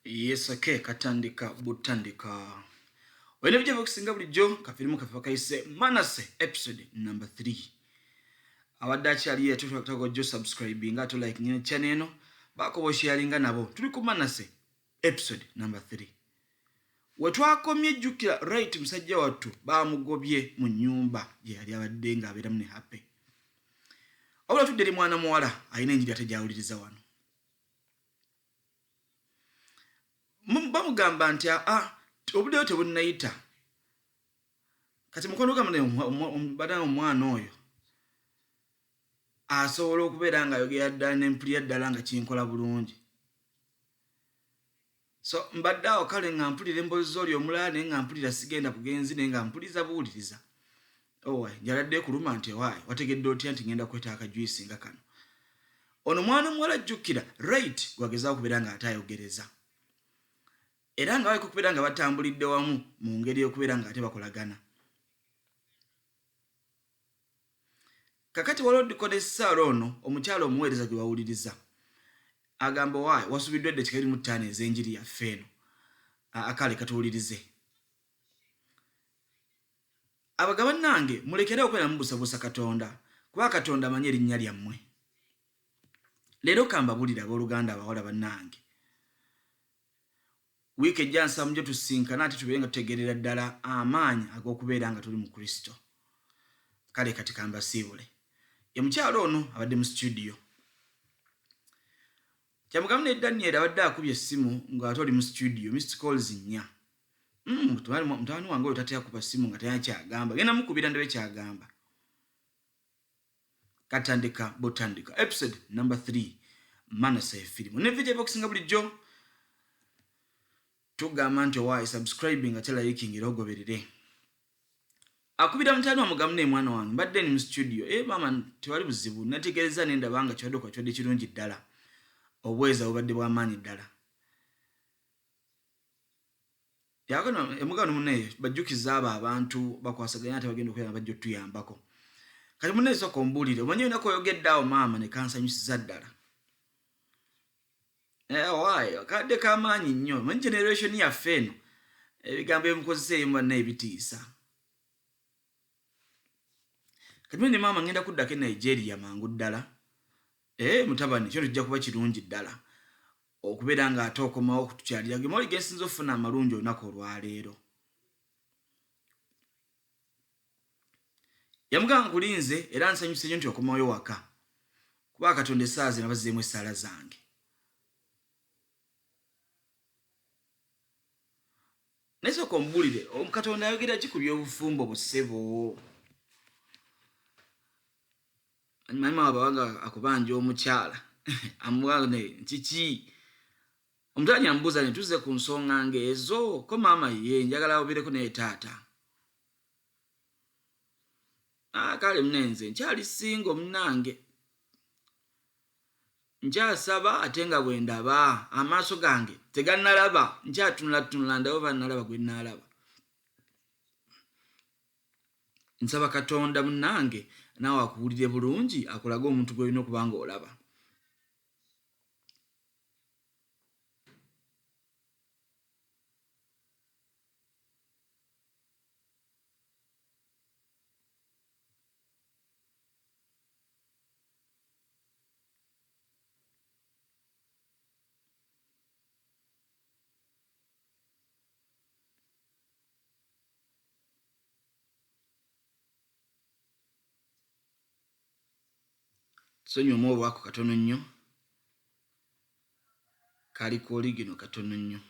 yes okay katandika butandika olina bijja bakusinga bulijjo kafirimu kafe bakayise manase episode number 3 abadde akyali yatutako jo subscribe nga to like nyina chane eno bakobo sharinga nabo tuli ku manase episode number 3 wetwakomye jjukira right musajja wattu bamugobye mu nyumba gye yali abadde nga abeeramu ne happy wabula tudde eri mwana muwala alina enjiri ate gyawuliriza wano bamugamba nti aa ah, obuddeyo tebunnayita kati mukwano gamba naye bada omwana oyo asobola okubeera nga ayogera ddala nempulira ddala nga kinkola bulungi so mbadde awo kale nga mpulira emboozi zoli omulala naye nga mpulira sigenda bugenzi naye nga mpuliza buwuliriza owa njaladde kuluma nti ewaayo wategedde otya nti ngenda kweta akajuyisi nga kano ono mwana omuwala ajjukkira right gwagezao okubeera nga ate ayogereza era nga baliko okubeera nga batambulidde wamu mu ngeri okubeera nga ate bakolagana kakati waliwo dikoda esaala ono omukyalo omuweereza gye wawuliriza agamba owaayi wasubiddwa edda kikalimu ttaano ez'enjiri yaffe eno akale katuwulirize abaga bannange mulekere okwera mubusabusa katonda kuba katonda amanyi erinnya lyammwe leero kambabulire abooluganda abawala bannange Wiiki ejja nsaba mujja tusinkana ate tubeere nga tutegeerera ddala amaanyi ag'okubeera nga tuli mu Kristo. Kale kati kambasiibule. Ye mukyalo ono abadde mu situdiyo. Kyamugamu ne Daniel abadde akubye essimu ng'ate oli mu situdiyo, missed calls nnya. Hmm, mutabani wange oyo tatya kuba ssimu nga tayina kyagamba. Genda mukubira ndabe kyagamba. katandika butandika episode number 3 manase firimu ne video boxinga bulijjo tugamba nti owaayi subscribing ate liking era ogoberere akubira mutani wamugamu naye mwana wange mbadde ni mu studio e maama tewali buzibu nategereza nendaba nga kiwadde kwa kiwadde kirungi ddala obweza bubadde bwamaanyi ddala Yakano emugano mune bajukiza aba abantu bakwasaganya ate bagenda okuyamba bajjo tuyambako. Kati mune soko mbulire omanyo nako yogedde awo maama ne kansanyusiza ddala. Eh why kade kamanyi nnyo mu generation ya feno ebigambo emukozesa eyimba ne ebitiisa. Kati mune maama ngenda kudda ke Nigeria mangu ddala. Eh mutabani kyo tujja kuba kirungi ddala. okubeera nga ate okomawo okutukyalira gemoli gesinza okufuna amalungi olunaku olwaleero yamugamba nkulinze era nsanyuse nyo nti okomayo waka kuba katonda esaazi nabazizeemu esaala zange naye soka omubulire katonda ayogera ki ku byobufumbo busebo manyuma wabawanga akubanja omukyala amubane kiki omukyala nyamubuuza ne tuze ku nsonga ngaezo ko maama ye njagala obeereko naye taata ah, kale munenze nkyali singa omunange nkyasaba ate nga bwe ndaba amaaso gange teganalaba nkyatunulatunula ndawo banalaba gwe naalaba nsaba katonda munange naawe akuwulire bulungi akulage omuntu gwolina okuba nga olaba sonyomu olwako katono nnyo kali ku oligino katono nnyo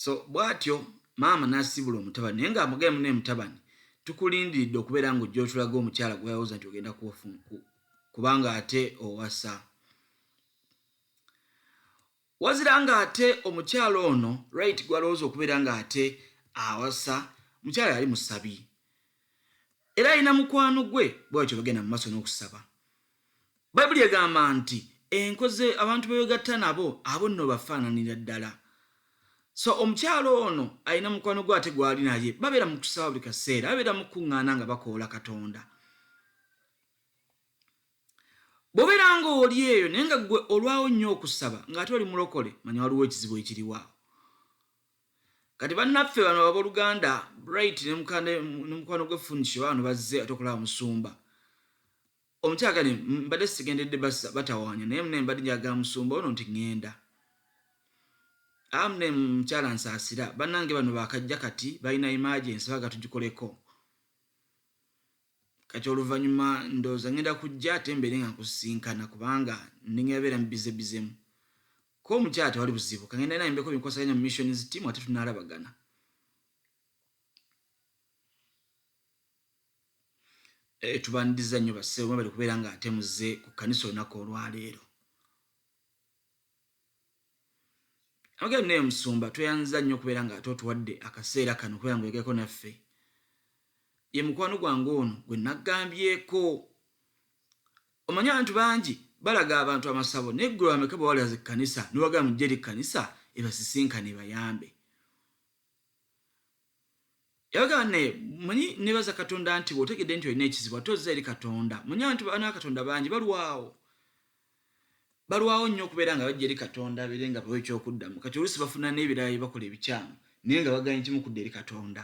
so bwatyo maama nasibula omutabani naye nga amugemu ne mutabani tukulindiridde okubeera nga ojja otulaga omukyala gweyawoza nti ogenda kubanga ate owasa Wazira nga ate omukyala ono right gwalowooza okubeera nga ate awasa mukyala yali musabi era alina mukwano gwe bwatyo bagenda mu maaso n'okusaba bayibuli egamba nti enkoze abantu bebegatta nabo abo nno bafaananira ddala so omukyalo ono alina mukwano gwe ate gwali naye babeera mu kusaba buli kaseera babeera mukuŋŋaana nga bakoola katonda Bw'obeera ng'oli eyo naye nga ggwe olwawo nnyo okusaba ng'ate oli mulokole, manya waliwo ekizibu ekiriwo awo. Kati bannaffe bano abooluganda Bright ne mukwano gwe Funisho baano bazze ate okulaba Musumba. Omukyala kati mbadde sigendedde batawaanya naye mune mbadde njagala Musumba ono nti ŋŋenda. Amune mukyala nsaasira bannange bano baakajja kati balina emergency baagala tugikoleko. kati oluvannyuma ndowooza ngenda kujja ate mbeere nga nkusisinkana kubanga nnengera beera mubizebizemu ko omukyala tewali buzibu kangenda naye mbeko binkwasaganya mu missions team ate tunaalabagana eh, tubandiza nnyo bassebo mwebali kubeera nga ate muzze ku kkanisa olunaku olwaleero Abagenda naye musumba tweyanziza nnyo okubeera nga ate otuwadde akaseera kano okubeera nga oyogeko naffe ye mukwano gwange ono gwe naggambyeko omanyi abantu bangi balaga abantu amasabo naye ggwe bameka bwe walaza ekkanisa newagala mujje eri kkanisa ebasisinkane ebayambe yagamba naye manyi nebaza katonda nti bwotegedde nti olina ekizibu ate ozza eri katonda manyi abantu bana katonda bangi balwawo balwawo nnyo okubeera nga bajja eri katonda abeere nga bawa ekyokuddamu kati oluusi bafuna n'ebirala bye bakola ebikyamu naye nga baganye kimu kudda eri katonda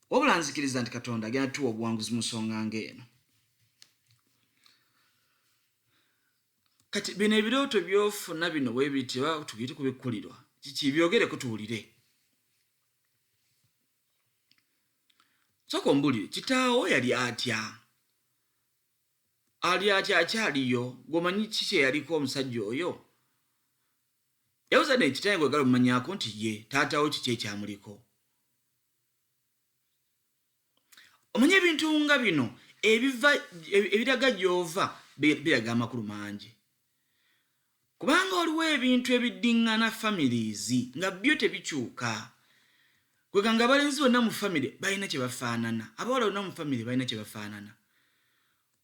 wabula nzikiriza nti katonda agenda tuwa obuwanguzi mu nsonga ngaeno kati bino ebirooto byofuna bino webiti oba tubiri kubikkulirwa kiki byogereko tuwulire soka ombulire kitaawo yali atya ali atya akyaliyo gwomanyi ki kyeyaliko omusajja oyo yabuza nekitaye gwegala omumanyako nti ye taatawo kiki ekyamuliko omanye ebintu nga bino ebiva ebiraga gyova biraga amakulu mangi kubanga waliwo ebintu ebiddingana families nga byo tebikyuka kwega nga abalenzi bonna mu famiry balina kyebafaanana abawala bonna mu famiry balina kyebafaanana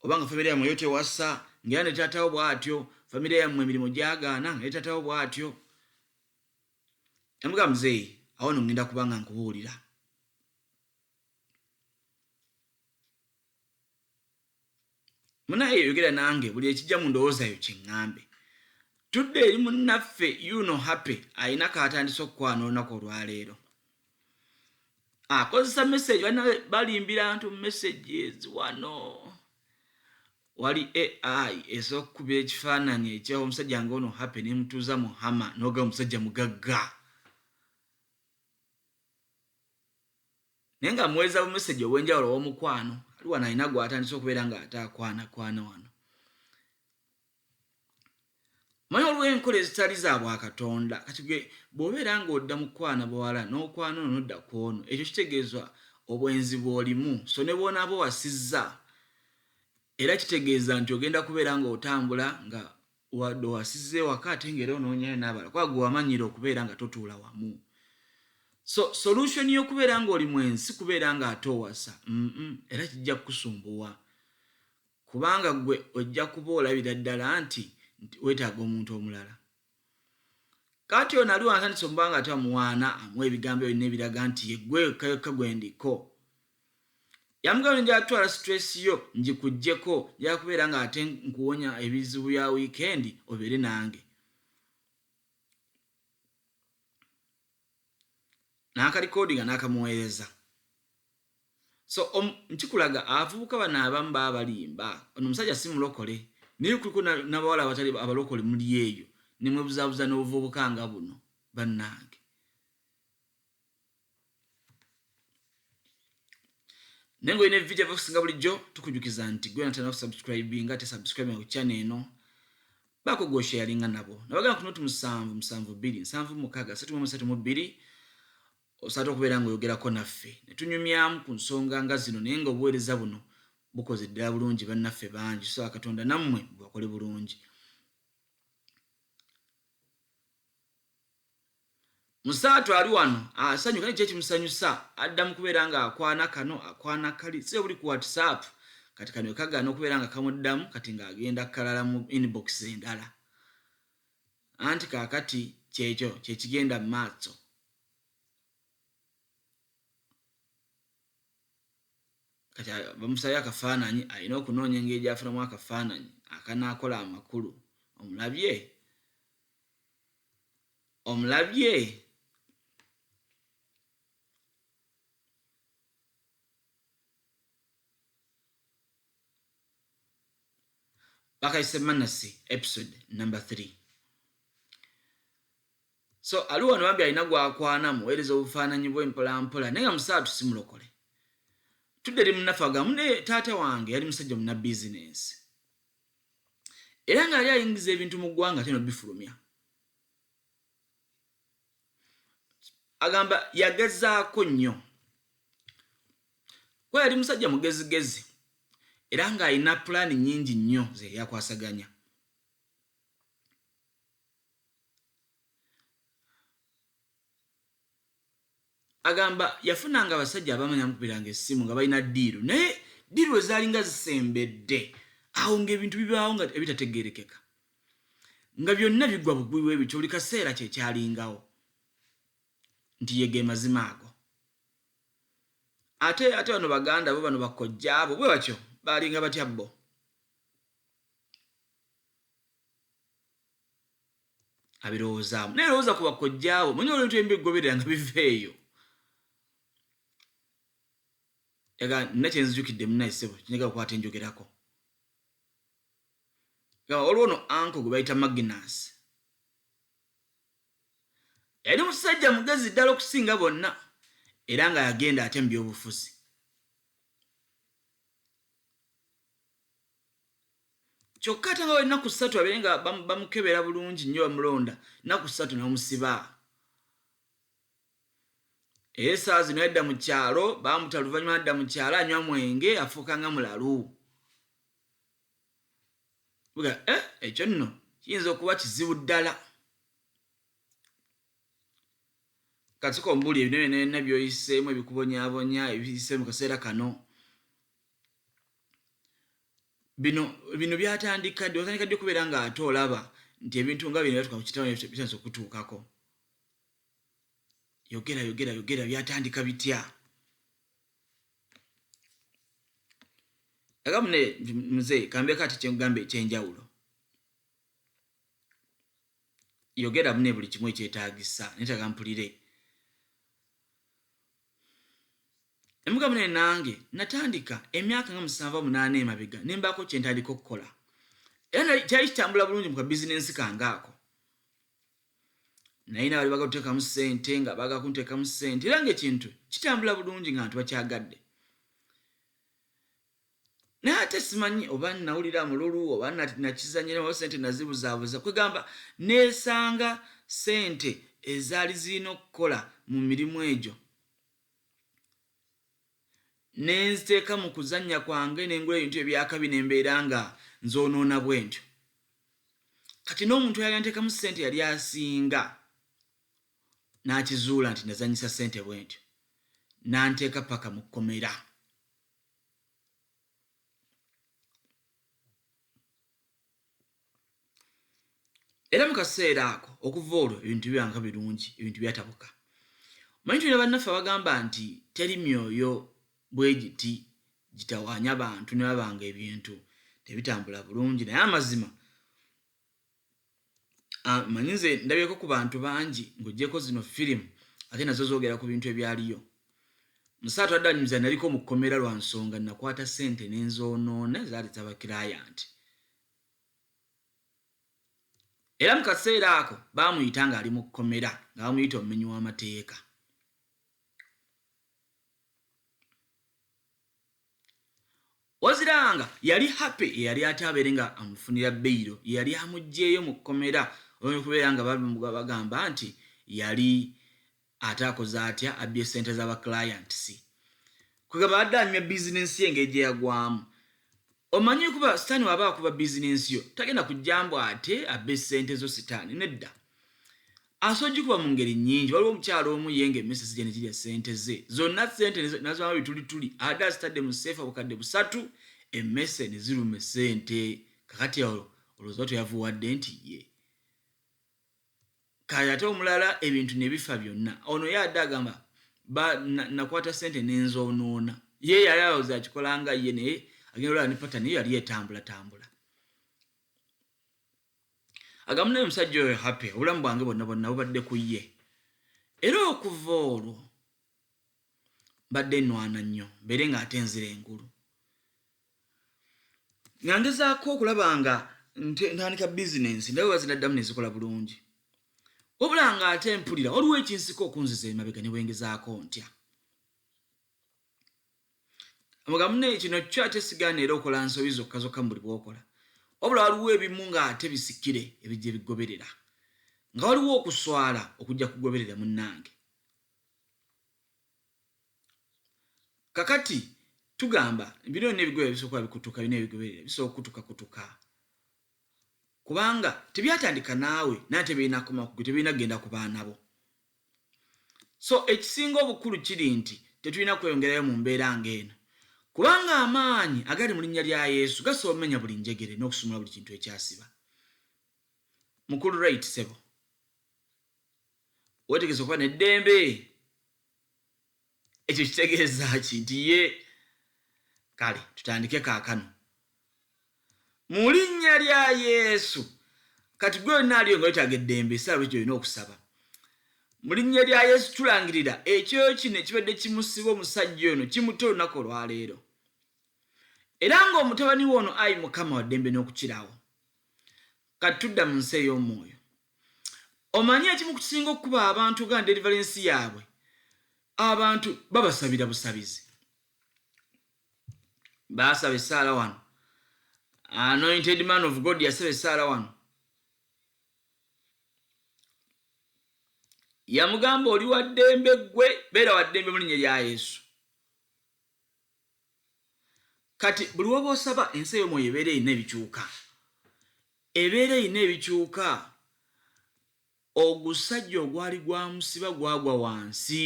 oba nga famiry yamwe yo tewasa ngaera ne taatawo bwatyo famiry yammwe emirimu gyagaana nga ne taatawo bwatyo Namuga muzeeyi awo no ngenda kuba nga nkubuulira. Munaye yogera nange buli ekijja mu ndowooza yo kiŋŋambe. Tudde eri munnaffe Yuno Happy alina k'atandise okukwana olunaku olwaleero. Akozesa message banna balimbira ntu messages wano. Wali ai esobola okukubira ekifaananyi ekya omusajja nga ono happy nemutuuza mu hama noga omusajja mugagga naye nga muweereza bu message obwenjawulo owomukwano ali wano alina gwatandise okubeera nga ate akwana kwana wano Manya waliwo enkola ezitali za bwakatonda kati gwe bwobeera nga odda mu kukwana bawala n'okwana ono nodda ku ono ekyo kitegeeza obwenzi bwolimu so ne bwonaaba owasizza era kitegeeza nti ogenda kubeera nga otambula nga wadde owasizza ewaka ate nga era onoonyayo n'abala kuba gwe wamanyira okubeera nga totuula wamu so solution y'okubeera nga oli mwenzi si kubeera nga ate owasa mm -mm. era kijja kukusumbuwa Kubanga ggwe ojja kuba olabira ddala nti, nti weetaaga omuntu omulala. Kaakati ono ali wansi atandise omuba nga ate amuwaana, amuwa ebigambo ebyo byonna ebiraga nti, ye ggwe wekka wekka gwe ndiko. Yamugamba nti, Njagala kutwala situleesi yo ngikuggyeko, njagala kubeera nga ate nkuwonya ebizibu bya wiikendi, obeere nange. n'akalikodinga n'akamuweereza so um, nkikulaga abavubuka bano abamu baba balimba ono omusajja si mulokole naye kuliko nabawala abatali abalokole muli eyo nemwebuzabuza n'obuvubuka nga buno bannange naye nga olina evideo byokusinga bulijjo tukujukiza nti gwena tena kusubscribinga te subscribing ku channel eno bako gosharinga nabo nabagana kuno tu musanvu musanvu bili nsanvu mukaga satu mu satu mu bili osatu kubera ngo yogera ko naffe netunyumyamu ku nsonga nga zino naye nga obuwereza buno bukoze ddala bulungi bannaffe bangi so akatonda nammwe bwakole bulungi musaatu ali wano asanyuka naye kyekimusanyusa adda mu kubeera nga akwana kano akwana kali si obuli ku whatsapp kati kano kagana okubeera nga kamuddamu kati ng'agenda kalala mu inbox endala anti kaakati kyekyo kyekigenda mu maaso kati bamusabye akafaananyi alina okunoonya engeri gyafunamu akafaananyi akanaakola amakulu omulabye omulabye bakayise manasi episode number 3 So ali wano bambi alina gwakwana muweereza obufaananyi bwe mpola mpola naye nga musaatu si mulokole. Tudde eri munnaffe agamu ne taata wange yali musajja muna bizinensi era nga yali ayingiza ebintu mu ggwanga ate nobifulumya. Agamba yagezaako nnyo kuba yali musajja mugezigezi era ng'alina pulaani nnyingi nnyo ze yakwasaganya. agamba yafunanga abasajja abamanya mukubiranga essimu nga balina diiru naye diiru ezaalinga zisembedde awo ngaebintu bibaawo nga ebitategerekeka nga byonna bigwa bugwi webityo buli kaseera kyekyalingawo nti yege mazima ago ate ate bano baganda bo bano bakojja abo bwe batyo baalinga batya bo abirowoozaamu naye lowooza ku bakojjaawo manyi olwebintu ebimu biggoberera nga biva eyo yaga nina kyenzijukidde munaisebo kinyaga kukwata enjogerako gaba waliwo no anko gwe bayita magnas yali musajja mugezi ddala okusinga bonna era nga yagenda ate mu byobufuzi kyokka ate nga wennaku ssatu abeere nga bamukebera bulungi nnyo bamulonda nnaku ssatu nebamusiba era esaawa zino yadda mu kyalo bamuta luvannyuma nadda mu kyalo anywa mwenge afuuka nga mulalu eh, ekyo nno kiyinza okuba kizibu ddala katika ombuli ebinene nabyoyiseemu ebikubonyabonya ebiyise mu kaseera kano bino bino byatandika ddi watandika ddi okubeera nga ate olaba nti ebintu nga bino byatuka kukitawbitandisa okutuukako yogera yogera yogera byatandika bitya agamu ne muze kambeeko ati kyengamba ekyenjawulo yogera mune buli kimu ekyetagisa netaga mpulire emugabo naye nange natandika emyaka nga musanvu munaana emabega ne mbaako kye ntandika okukola era kyali kitambula bulungi mu kabizinensi kange ako naye nabali baga kuteekamu ssente nga baga kunteekamu ssente era ngaekintu kitambula bulungi nga ntu bakyagadde naye ate simanyi oba nawulira mululu oba nakizanyirawo sente nazibuzaabuza kwegamba nesanga sente ezaali zirina okukola mu mirimu egyo nenziteeka mu kuzannya kwange nengula ebintu ebyakabi nembeera nga nzonoona bwentyo kati n'omuntu yali anteekamu sente yali asinga nakizuula nti nazanyisa sente bwentyo nanteeka paka mu kkomera era mu kaseera ako okuva olwo ebintu byanga birungi ebintu byatabuka manyi tulina bannaffe abagamba nti teri myoyo bwe giti gitawaanya bantu ne babanga ebintu tebitambula bulungi naye amazima ah, manyi nze ndabyeko ku bantu bangi ng'ogyeko zino firimu ate nazo zoogera ku bintu ebyaliyo musaatu adanyuza naliko mu kkomera lwa nsonga nakwata ssente n'enzoonoona zaali zabakilayanti era mu kaseera ako baamuyita ng'ali mu kkomera nga bamuyita omumenyi w'amateeka Wazira nga yali happy yeyali ate abere nga amufunira beyiro yeyali amugyeyo mu komera oyinza kubeera nga bagamba nti yali ate akoze atya abbye sente za ba clients kwegamba adde anyumya business ye engeri gyeyagwamu omanyi kuba sitani waba akuba business yo tagenda kujjambu ate abbe sente zo sitani nedda Asobola okugikuba mu ngeri nnyingi. Waliwo omukyala omu ye ng'emmese zijja ne girya ssente ze zonna, ssente n'aziwaamu bitulituli. Abadde azitadde mu sseefa obukadde busatu, emmese ne ziruma essente. Kaakati awo olowooza oba teyavuwadde nti ye? Kale ate omulala ebintu ne bifa byonna. Ono ye adde agamba, ba, na, nakwata ssente ne nzoonoona. Ye yali alowooza akikola nga ye, naye agenda olaba ne patani eyo yali etambulatambula. agamu naye omusajja oyo happy obulamu bwange bonna bonna bubadde ku ye era okuva olwo mbadde nwana nnyo mbeere nga ate nzira engulu nga ngezaako okulaba nga ntandika bizinensi ndabe bazinaddamu nezikola bulungi wabula nga ate mpulira waliwo ekinsika okunziza emabega ne bwengezaako ntya mugamune kino kyo ate sigaana era okola nsobi zokka zokka mu buli bwokola wabula waliwo ebimu nga ate bisikire ebijja ebigoberera nga waliwo okuswala okujja kugoberera munnange kakati tugamba bino byonna ebigoya bisooka bikutuka bina ebigoberera bisooka kukutuka kutuka kubanga tebyatandika naawe naye tebirina koma kugwe tebirina kugenda ku baana bo So ekisinga obukulu kiri nti tetulina kweyongerayo mu mbeera ng'eno, kubanga amaanyi agali mu linnya lya Yesu gasobola omenya buli njegere n'okusumulula buli kintu ekyasiba. Mukulu Wright, ssebo, weetegese okuba n'eddembe? ekyo kitegeeza ki nti ye kale tutandike kaakano mu linnya lya yesu kati gwe olina aliyo nga wetaaga eddembe esaala ekyo olina okusaba mu linnya lya yesu tulangirira ekyo kino ekibadde kimusiba omusajja ono kimuta olunaku olwaleero era ng'omutabani we ono ayi mukama waddembe n'okukirawo kati tudda mu nsi ey'omwoyo omanyi ekimu kukisinga okukuba abantu ga deliverance yaabwe abantu babasabira busabizi basaba esaala wano anointed man of god yasaba esaala wano yamugamba oli waddembe ggwe beera waddembe mu linnya lya yesu kati buli waba osaba ensi eyomwoyo ebeera erina ebikyuka ebeera erina ebikyuka ogusajja ogwali gwamusiba gwagwa wansi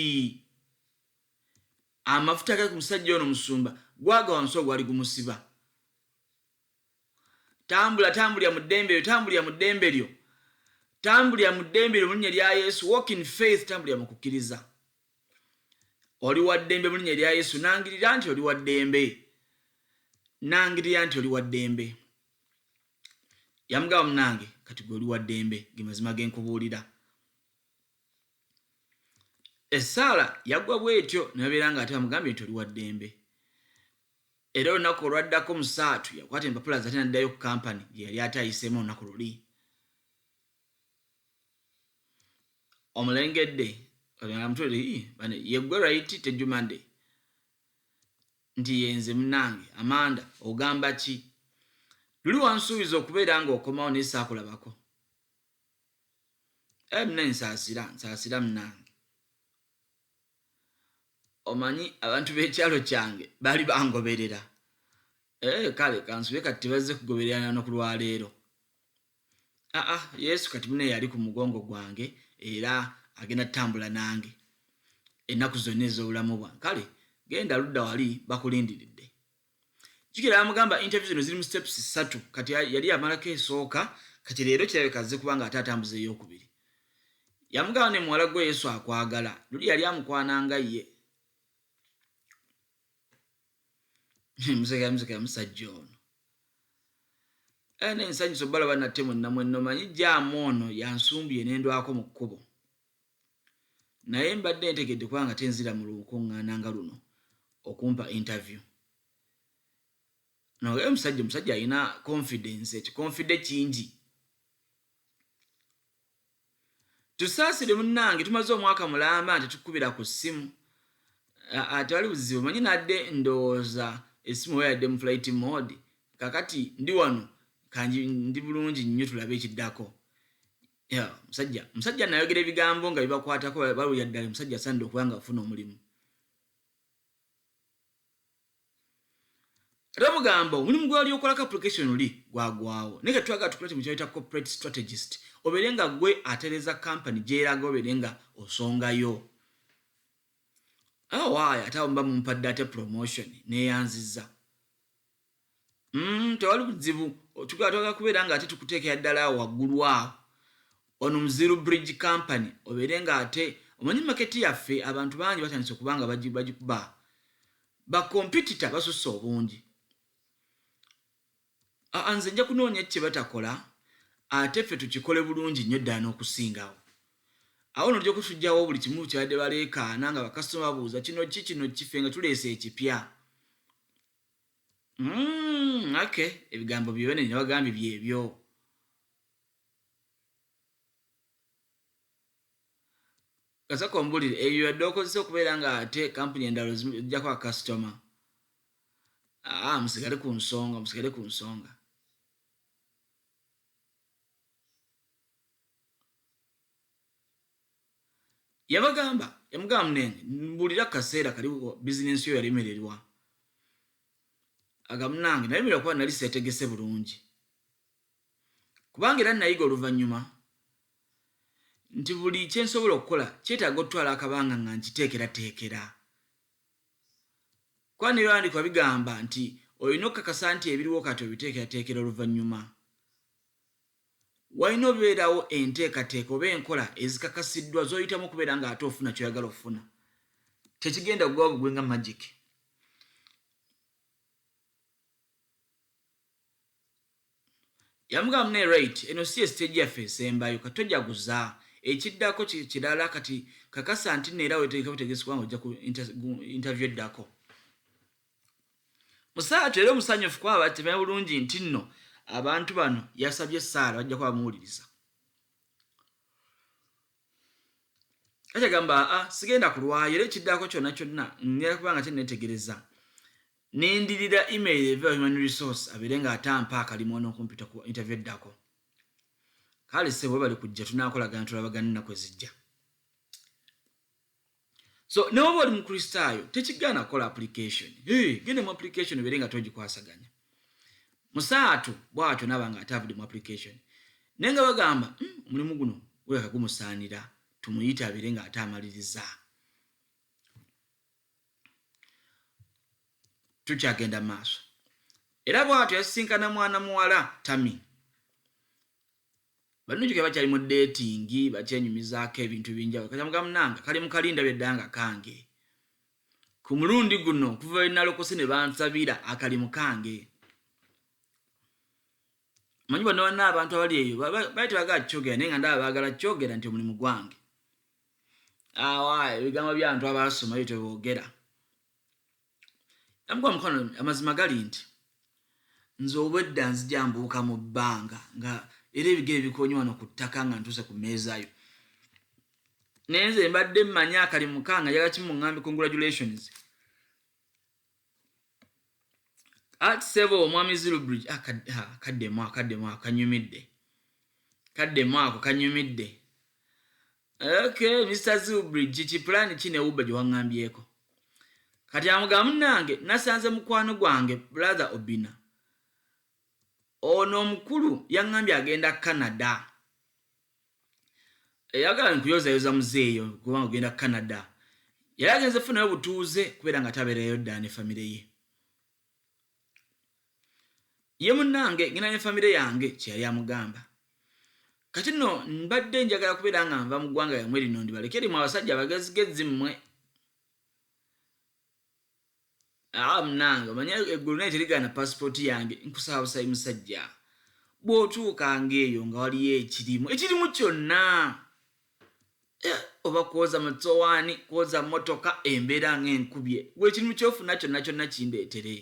amafuta gali ku musajja ono musumba gwagwa wansi ogwali gumusiba tambula tambulira mu ddembe lyo tambulira mu ddembe lyo tambulira mu ddembe lyo mulinnya lya yesu walk in faith tambulira mu kukkiriza oli wa ddembe mulinnya lya yesu nangirira nti oli wa ddembe nangirira nti oli wa ddembe yamugaba munange kati gwe oli wa ddembe ge mazima ge nkubuulira essaala yagwa bwetyo nabeera nga ate amugambye nti oli wa ddembe Era olunaku olwaddako Musaatu yakwata empapula ze ate n'addayo ku kampani gye yali ate ayiseemu olunaku luli. Omulengedde ye ggwe right Tejjumade nti ye nze munnange Amanda ogamba ki? Luli wansuubiza okubeera ng'okomawo naye saakulabako. Ee eh, munnange nsaasira nsaasira munnange. omanyi abantu b'ekyalo kyange baali bangoberera eh, kale kansube kati tebazze kugobererana no ku lwaleero aa ah, ah, yesu kati mune yali ku mugongo gwange era agenda tutambula nange ennaku zonna ez'obulamu bwange kale genda ludda wali bakulindiridde jukira yamugamba interview zino ziri mu steps ssatu kati yali yamalako esooka kati leero kirabika azze kubanga ate atambuza eyokubiri yamugamba ne muwala gwe yesu akwagala luli yali amukwana nga ye musekamuseka musajja ono ene eh, ensanyusa obalaba nate mwenna mwenno manyi jaamu ono yansumbye nendwako mu kkubo naye mbadde ntegedde kubanga tenzira mu lukuŋŋaana nga luno okumpa interview naye omusajja omusajja alina confidence ekikonfide kingi tusaasire munnange tumaze omwaka mulamba nti tukubira ku ssimu ate wali buzibu manyi nadde ndowooza essimu oba yadde mu flight mode kakati ndi wano kanji ndi bulungi nnyo tulabe ekiddako Yeah, musajja musajja nayogera ebigambo nga bibakwatako balulya ddala musajja asanidde okuba nga afuna omulimu rabugambo omulimu gwali okolako application oli gwagwawo naye katwagala tukulete mu kyayita corporate strategist obeere nga gwe atereza kampany gyeraga obeere nga osongayo awaaya ate awo mba mumpadde ate promotion neyanziza mm, tewali buzibu tugala twagala kubeera nga ate tukuteekera ddala awo waggulu awo ono muziru bridge company obeere nga ate omanyi maketi yaffe abantu bangi batandise okuba nga bagikuba bakompitita basusse obungi nze nja kunoonya kye batakola ate ffe tukikole bulungi nnyo ddala n'okusingawo awo nolja okusujjawo buli kimu kyabadde baleekaana nga bakasitoma babuuza kino ki kino kife nga tuleese ekipya Mm, okay ebigambo byone newagambye byebyo kasaka ombulire ebyo yadde okozesa okubeera nga ate kampuni endalo zijjako akasitoma aa ah, musigale ku nsonga musigale ku nsonga yabagamba yamugamba munenge mbulira kaseera kali bizinensi yo yalemererwa agamunange nalemererwa kuba nali setegese bulungi kubanga era nayiga oluvannyuma nti buli kyensobola okukola kyetaaga okutwala akabanga nga nkiteekerateekera kuba nebyawandikwa bigamba nti olina okukakasa nti ebiriwo kati obiteekerateekera oluvannyuma Walina obeerawo enteekateeka oba enkola ezikakasiddwa z'oyitamu okubeera ng'ate ofuna ky'oyagala okufuna. Tekigenda kuggwawo bugwi nga magic. Yamugamba mune right, eno si ye siteegi yaffe esembayo, kati tojaguza. Ekiddako kirala, kati kakasa nti nno era wetegeka butegesi kubanga ojja ku interview eddako. musaatu era omusanyufu ku aba temanyi bulungi nti nno abantu bano yasabye essaala bajja kuba bamuwuliriza akyagamba a sigenda kulwayo era ekiddako kyonna kyonna ngera kubanga kyenetegereza nendirira email eva human resource abeere nga atampa akalimu nokumpita ku interview eddako kale sebo bali kujja tunakolagana tulabaganennaku ezijja so newoba oli mukristaayo tekigaana kukola application gende mu application obeere nga togikwasaganya musaatu bwatyo naba nga ate avudde mu application naye nga bagamba hmm, omulimu guno guleka gumusaanira tumuyite abeere nga ate amaliriza tukyagenda maaso era bwatyo yasisinkana mwana muwala tami Balungi ke bakyali mu dating bakyenyumizaako ebintu binjawulo kati amugamba munange akalimu kali ndabye dda nga kange ku mulundi guno okuva lwe nalokose ne bansabira akalimu kange manyi bonna banna abantu abali eyo bali tebagala kyogera naye nga ndaba baagala kyogera nti omulimu gwange awa ebigambo byantu abaasoma ebyo tebogera namukuba mukwano amazima gali nti nze obwedda nzija mbuuka mu bbanga nga era ebigere bikonye wano ku ttaka nga ntuuse ku meezayo naye nze mbadde mmanyi akali mukanga yaga kimuŋambi congratulations at sebo omwami zilubridge ah, ah, kaddemu akaddemu akanyumidde kaddemu ako kanyumidde Okay, Mr. Zubri, kiki plan ki ne Uba gyewaŋŋambyeko? Kati amuga munange nasanze mukwano gwange brother Obina. Ono omukulu yaŋŋambye agenda Canada. Eyagala nkuyozayoza muzeeyo kubanga ogenda Canada. Yali agenze funayo butuuze kubeera nga tabeerayo ddala ne famire ye. ye munnange ngenda ne famire yange kye yali amugamba kati nno mbadde njagala kubeera nga nva mu ggwanga yamwe lino ndibaleke rimwe abasajja abagezigezi mmwe ah, munnange omanye eggulu naye terigaana pasipooti yange nkusaba busabi musajja bw'otuuka ng'eyo nga waliyo ekirimu ekirimu kyonna Eh, oba kwoza musowaani kwoza motoka embeera nga enkubye gwe ekintu kyofuna kyonna kyonna kindeetere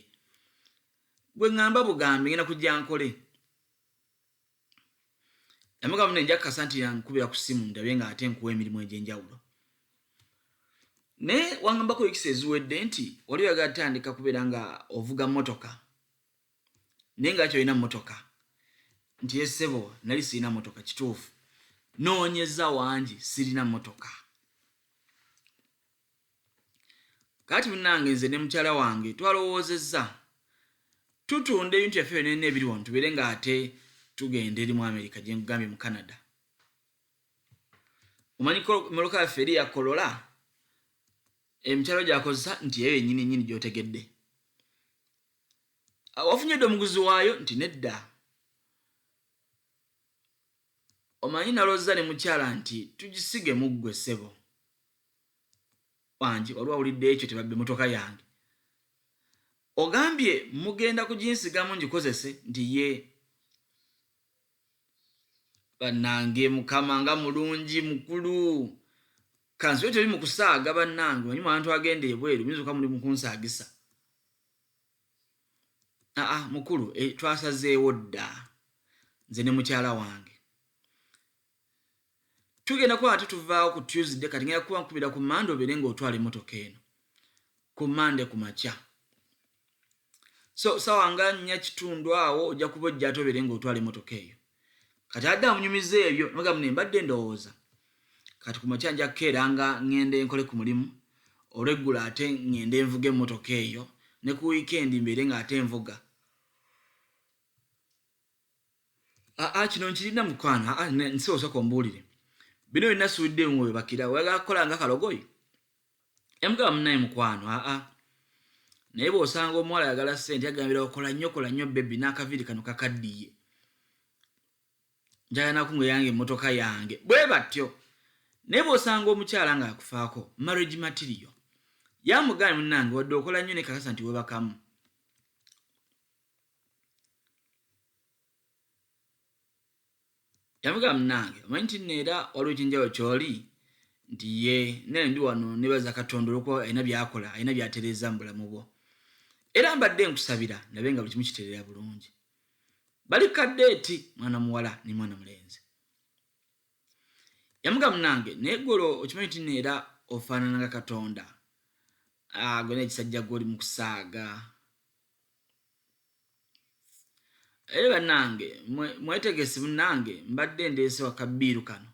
gwe ŋamba bugambi ngenda kujja nkole namugambo ne njakukasa nti yankubira ku simu ndabye nga ate nkuwa emirimu egyenjawulo naye wangambako wikisi eziwedde nti wali oyagala tandika kubeera nga ovuga motoka naye nga kyolina motoka nti esebo eh, nali sirina motoka kituufu noonyeza wangi sirina motoka kati munange nze ne mukyala wange twalowoozezza tutunda ebintu byaffe byonena ebiri wano tubeere nga ate tugenda eri mu amerika gye nkugambye mu canada omanyi moloka yaffe eri yakolola emikyalo gyakozesa nti eyo yenyini nyini gyotegedde Ah, wafunye dda omuguzi waayo nti nedda omanyi nalooza ne mukyala nti tugisige muggwe ssebo wange wali wawulidde ekyo tebabbe motoka yange ogambye mugenda kuginsigamu ngikozese nti ye bannange mukama nga mulungi mukulu kansibe teri mu kusaaga bannange manyi mwantu agenda ebweru muyinza okuba muli mukunsaagisa aa ah, mukulu e, twasazeewo dda nze ne mukyala wange tugenda kuba ate tuvaawo ku tuesday kati ngenda kuba nkubira ku mande obeere ngaotwala emotoka eno ku mande ku makya so sawa nga nnya kitundu awo ojja kuba ojja ate obeere ngaotwala emotoka eyo kati adde amunyumiza ebyo nogamu ne mbadde ndowooza kati ku makya nja kukeera nga ŋŋenda enkole ku mulimu olweggulo ate ŋŋenda envuga emmotoka eyo ne ku wiikendi mbeere nga ate envuga aa kino nkirina mukwano nsi osooka ombuulire bino byonna suudde mu webakira oyagala kukola nga kalogoyi yamugamba munaye mukwano aa naye bwosanga omuwala ayagala sente agambira okola nnyo kola nnyo bebi n'akaviiri kano kakaddiye njagala nakunga eyange emmotoka yange bwe batyo naye bwosanga omukyala ng'akufaako marriage material yamugaana munange wadde okola nnyo ne kakasa nti webakamu yavuga munange omanyi nti nno era waliwo ekyenjawulo kyoli nti ye naye ndi wano nebaza katonda olwokuba alina byakola alina byatereeza mu bulamu bwo era mbadde nkusabira nabe nga buli kimu kiterera bulungi bali kadde eti mwana muwala ne mwana mulenzi yamuga munange naye golo okimanyi nti nno era ofaanana nga katonda ah, gwe naekisajja gwe oli mu kusaaga Aye bannange mwe- mwetegesi munnange mbadde ndeese wa kabbiiru kano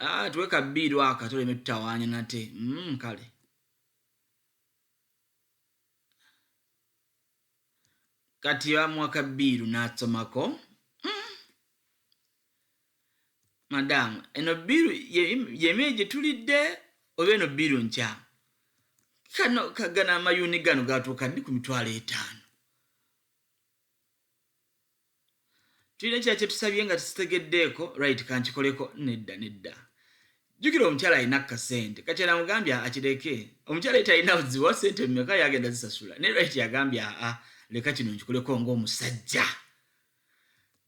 Ah, tuwe kabbiiru aka tuleme tutawaanya nate mm, kale kati bamuwa kabbiiru n'asomako madaamu eno bbiiru yemyeyi gye tulidde oba eno bbiiru nkyamu kano kagana amayuuni gano gatuuka ndi ku mitwalo etaano tulina ekira kyetusabye nga tusitegeddeeko right kankikoleko nedda nedda jjukira omukyala alina kasente kati anamugambye akireke omukyala ye talina buzibu wa sente mumeka yagenda zisasula naye right yagambye aa leka kino nkikuleko ngaomusajja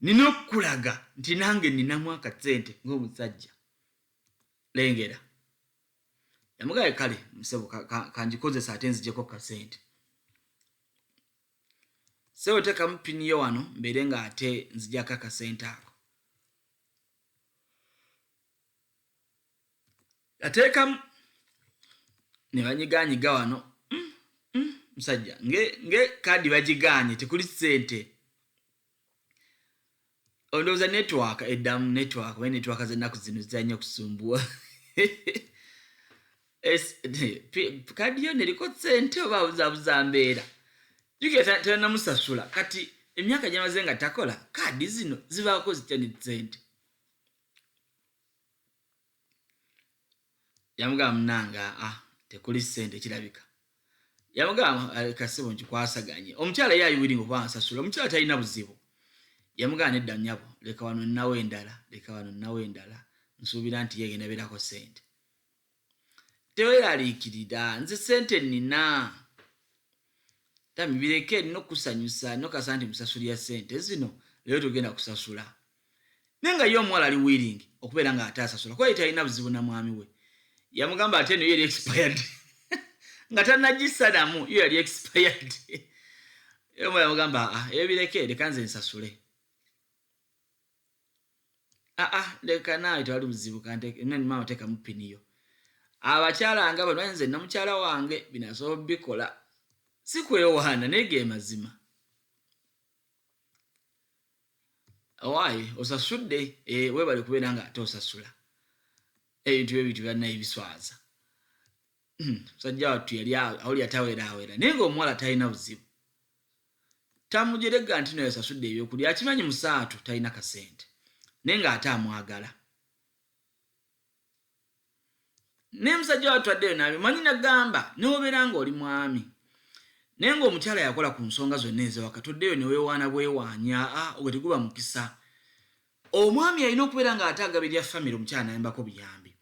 nina okukulaga nti nange ninamu akasente ngaomusajja lengera yamugaye kale musebo kanjikozesa ate nzijeko kasente sebo tekamu pini yo wano mbeere nga ate nzijako akasente ako ateekamu ne banyiganyiga wano mm, mm, musajja mm, nge, nge kaadi bagiganye tekuli sente ondowooza netwaka eddamu netwaka oba netwaka zennaku zino zizanyo okusumbuwa kaadi yo neriko sente oba buzabuza mbeera juketenamusasula kati emyaka gyamaze nga takola kaadi zino zibaako zitya ne sente yamugamba munange aa ah, tekuli sente kirabika yamugamba eh, kasibo nti kwasaganye omukyala ye ayiwiringa okuba ansasula omukyala talina buzibu yamugamba nedda nyabo leka wano nawe endala leka wano nawe endala nsuubira nti yegenda berako sente teweraliikirira nze sente nina tamibireke nina okusanyusa nokasa nti musasuli ya sente zino leero tugenda kusasula naye nga ye omuwala ali willing okubeera nga ate asasula kuba yetalina buzibu na mwami we yamugamba ate eno yeri expired nga tanagissanamu yo yali expired omuwala yamugamba aa ah, eyo bireke leka nze nsasule aa ah, ah, leka naawe tewali buzibu kantemama otekamu piniyo abakyala nga bano nze namukyala wange binasobola bikola sikwewaana naye ge mazima owaaye osasudde eh, webale kubeera nga ate osasula ebintu bye bintu byalina ebiswaza hmm, musajja wattu yali awuli ataweeraawera naye nga omuwala talina buzibu tamujerega nti naye osasudde ebyokulya akimanyi musaatu talina kasente naye nga ate amwagala naye musajja watu addeyo nabimanyi nagamba newobeera nga oli mwami naye nga omukyala yakola ku nsonga zonna ezewaka toddeyo newewaana bwewaanya ah, ogwe teguba mukisa omwami alina okubeera nga ate agaba erya famiry omukyala nayambako buyambi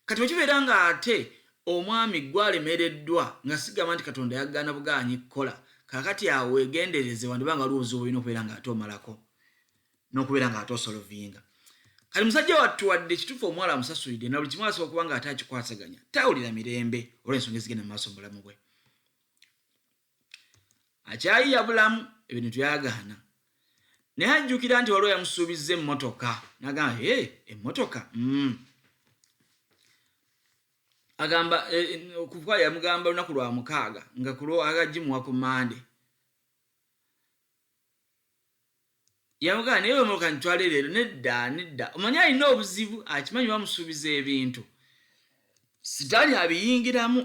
kati wekibeera nga ate omwami gwalemereddwa nga sigamba nti katonda yagaana bugaanyi kukola kakati awo wegendereze wandiba nga waliwo obuzibu bulina okubeera nga ate omalako nokubeera nga ate osolovinga kati musajja wattu wadde kituufu omuwala amusasulidde na buli kimu asobola okuba nga ate akikwasaganya tawulira mirembe olwensonga ezigenda mumaaso mubulamu bwe akyayiya bulamu ebintu byagaana naye ajjukira nti waliwo yamusuubizza emmotoka nagamba e emmotoka mm. agamba e, e, okuva yamugamba olunaku lwa mukaaga nga kulwo agagimuwa ku mande yamugamba naye wemuloka nitwale leero nedda nedda omanyi alina obuzibu akimanyi bamusuubiza ebintu sitaani abiyingiramu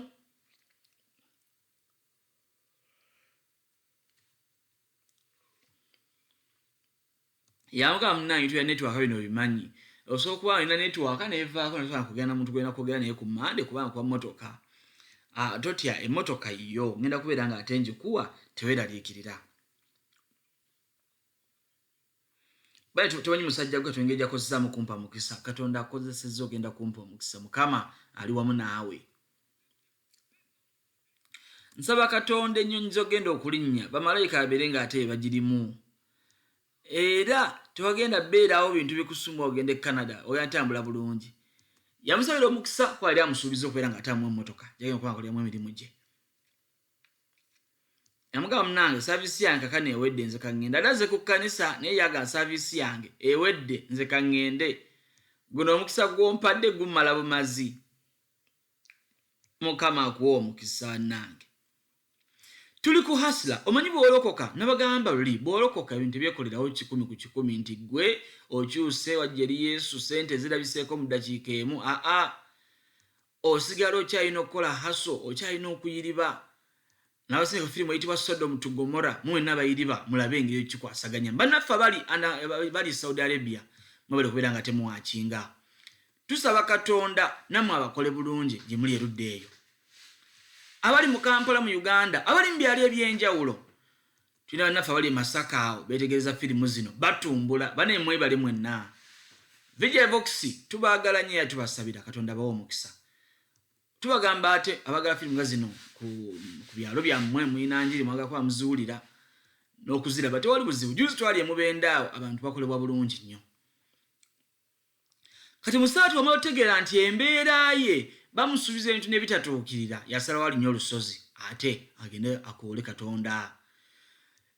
yamugamba munange tuya netwaka bino bimanyi osobola okuba olina netwaka nevaako nasobola kugenda muntu gwena kwogera naye ku mande kubanga kuba motoka ah, totya emotoka yiyo ngenda kubeera nga ate njikuwa teweraliikirira bali tewanyi musajja gwe twengeri jakozesaamu kumpa mukisa katonda akozeseza ogenda kumpa omukisa mukama ali wamu naawe nsaba katonda ennyonyi zogenda okulinnya bamalayika abeere nga ate ebagirimu era tewagenda beerawo bintu bikusumba ogenda e canada oya ntambula bulungi yamusabira omukisa kwali amusuubiza okubeera nga atamu emotoka jagenda okuba nga koliamu emirimu gye namugamba munange saviisi yange kakano ewedde nze kaŋŋende ate aze ku kkanisa naye yaga saviisi yange ewedde nze kaŋŋende guno omukisa gwompadde gumala bumazi mukama akuwa omukisa nange tuli ku hasla omanyi bwolokoka nabagamba luli bwolokoka ebintu ebyekolerawo kikumi ku kikumi nti gwe okyuse wajja eri yesu sente zirabiseeko mu dakiika emu aa osigala okyalina okukola haso okyalina okuyiriba nabaseka firimu eyitibwa sodom to gomora mwena bayiriba mulabe engeri ekikwasaganya banaffe abali bali saudi arabia mwebale kubeera nga temuwakinga tusaba katonda namwe abakole bulungi gyemuli erudde eyo abali mu kampala mu uganda abali mu byalo ebyenjawulo tulina bannaffe abali emasaka awo betegereza firimu zino batumbula bane mwebale mwenna vijevox tubagala nyo era tubasabira katonda bawa omukisa tubagamba ate abagala firimu nga zino ku byalo byammwe mulina njiri mwagakuba muziwulira n'okuziraba tewali buzibu juzi twali emubendaawo abantu bakolebwa bulungi nnyo kati musaatu wamala otegeera nti embeera ye bamusuubiza ebintu nebitatuukirira yasalawo alinye olusozi ate agende akoole katonda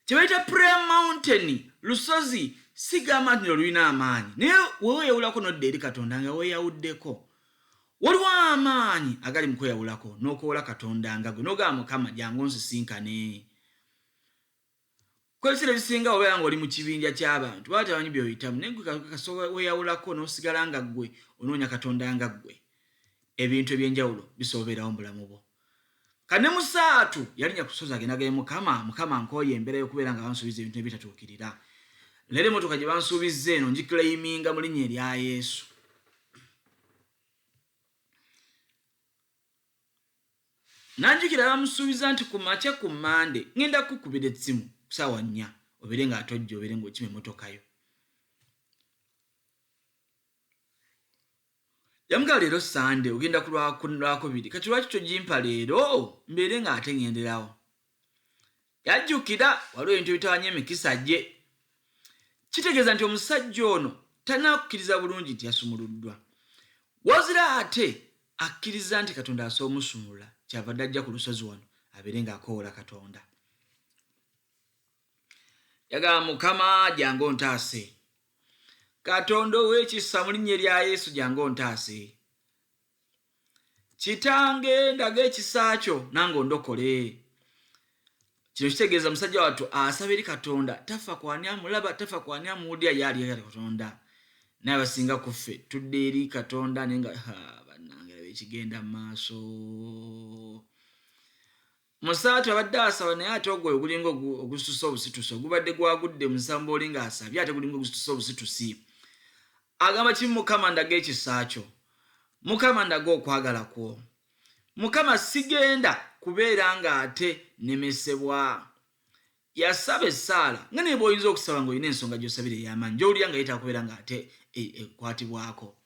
kyebayita prayer mountain lusozi sigamba nti nolulina amaanyi naye weweyawulako nodda eri katonda nga weyawuddeko waliwo amaanyi agali mukweyawulako nokoola katonda nga gwe nogamba mukama jangu nsisinkane Kwebisera ebisinga obeera nga oli mu kibinja kyabantu baba tebamanyi byoyitamu naye gwe kasita weyawulako nosigala nga gwe onoonya katonda nga gwe ebintu ebyenjawulo bisobola obeerawo mubulamu bwo kane musaatu yalinya kusozi agendagaye mukama mukama nkooye embeera yokubeera nga bansuubiza ebintu nebitatuukirira leero emotoka gye bansuubizza eno ngikilayiminga mu linnya erya yesu Nanjukira bamusuubiza nti ku makya ku Mmande ngenda kukubira etsimu ku saawa nnya obeere nga atojja obeere ng'okima emmotoka yo. Yamugala leero Ssande ogenda ku Lwakubiri kati lwaki togimpa leero mbeere ng'ate ngenderawo. yajjukira waliwo ebintu ebitawanya emikisa gye kitegeeza nti omusajja ono tanakukkiriza bulungi nti yasumuluddwa wazira ate akkiriza nti katonda asobola omusumulula kyava dde ajja ku lusozi wano abeere ng'akoowola katonda yagamba mukama jange ontaase katonda ow'ekisa mu linnya erya yesu jange ontaase kitange ndaga ekisa kyo nange ondokole kino kitegeeza musajja wattu asaba eri katonda tafa kwani amulaba tafa kwani amuwulira ye aliyo ali katonda naye abasinga ku ffe tudde eri katonda naye nga banange laba ekigenda mu maaso Musaatu abadde asaba naye ate ogwo ogulinga ogusitusa obusitusi ogubadde gwagudde musamba oli nga asabye ate gulinga ogusitusa obusitusi agamba kimu mukama ndaga ekisa kyo mukama ndaga okwagala kwo mukama sigenda kubeera nga ate nemesebwa yasaba essaala nga naye bwoyinza okusaba ngaolina ensonga gyosabira eyamaanyi gyowulira nga yetakubeera nga ate e, ekwatibwako e,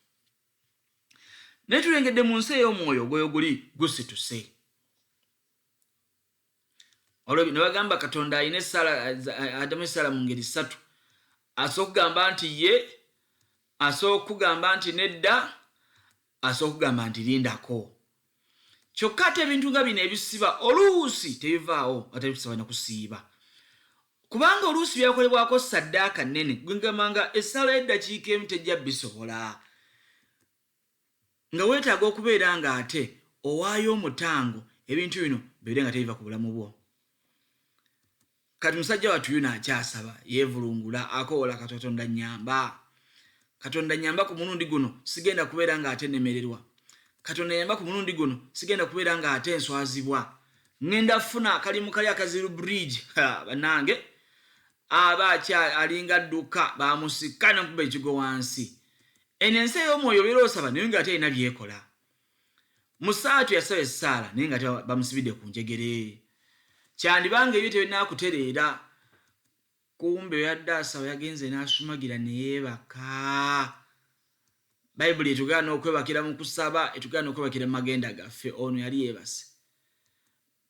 naye tulengedde mu nsi ey'omwoyo ogwoyo guli gusituse olwo bino bagamba katonda alina esaala adamu esaala mu ngeri ssatu asobola okugamba nti ye asobola okugamba nti nedda asobola okugamba nti lindako kyokka ate ebintu nga bino ebisiba oluusi tebivaawo nga tebitusaba na kusiiba kubanga oluusi byakolebwako saddaaka nnene gwegamba nga essaala y'eddakiika emu tejja bisobola nga weetaaga okubeera nga ate owaayo omutango ebintu bino bibeere nga tebiva ku bulamu bwo kati musajja watu yuna akyasaba yevulungula akowola katotonda nyamba katonda nyamba ku mulundi guno sigenda kubeera nga ate nemererwa katonda nyamba ku mulundi guno sigenda kubeera nga ate enswazibwa ŋenda funa kalimu kali akaziru bridge banange aba akya alinga dduka bamusika nekuba ekigo wansi eno ensi ey'omwoyo obeera osaba naye nga ate erina byekola musaatu yasaba essaala naye nga bamusibidde ku njegere kyandiba nga ebyo tebinakutereera kumbe yadde asaba yagenze n'asumagira neyeebaka bayibuli etugera n'okwebakira mu kusaba etugera n'okwebakira mu magenda gaffe ono yali yeebase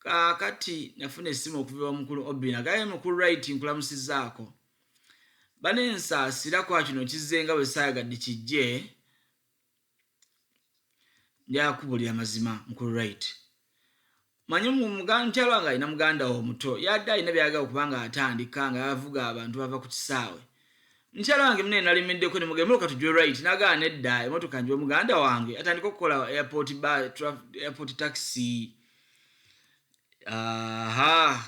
kaakati nafuna essimu okuviba mukulu obina gaye mukulu rit nkulamusizaako banensaasira kwa kino kizzenga bwe saayagadde kijje njakubulira mazima mukulu right manyi mukyalo wange alina muganda wo omuto yadde alina byayagala okuba nga atandika nga yavuga abantu bava ku kisaawe mukyalo wange mune nalimiddeko nemugemoka tujwe right nagaa nedda emotoka njiwe muganda wange atandika okukola airport ba airport taxi aha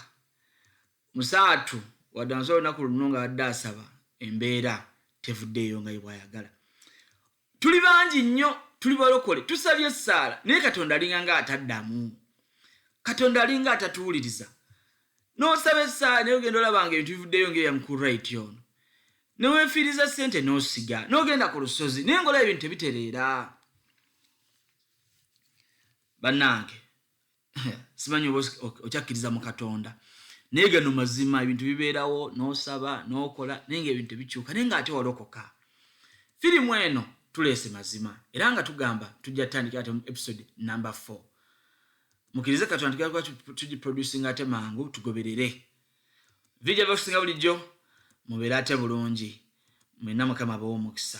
musaatu wadde ansobola olunaku luno nga adde asaba embeera tevuddeeyo nga yebwayagala Tuli bangi nnyo tuli balokole tusabye essaala naye katonda alinga nga ataddamu katonda alinga atatuwuliriza nosaba essaala naye ogenda olabanga ebintu bivuddeyo ngaeyamukurit ono newefiiriza sente nosiga nogenda ku lusozi naye ngaolaba ebintu tebitereera bannange simanyi oba okyakkiriza mu katonda naye gano mazima ebintu bibeerawo n'osaba n'okola naye nga ebintu tebikyuka naye nga ate walokoka firimu eno tuleese mazima era nga tugamba tujja tutandikira ate mu episode number 4 mukirize katonda tugenda kuba tugiproducinga ate mangu tugoberere vija vakusinga bulijjo mubeere ate bulungi mwena mukama bawo omukisa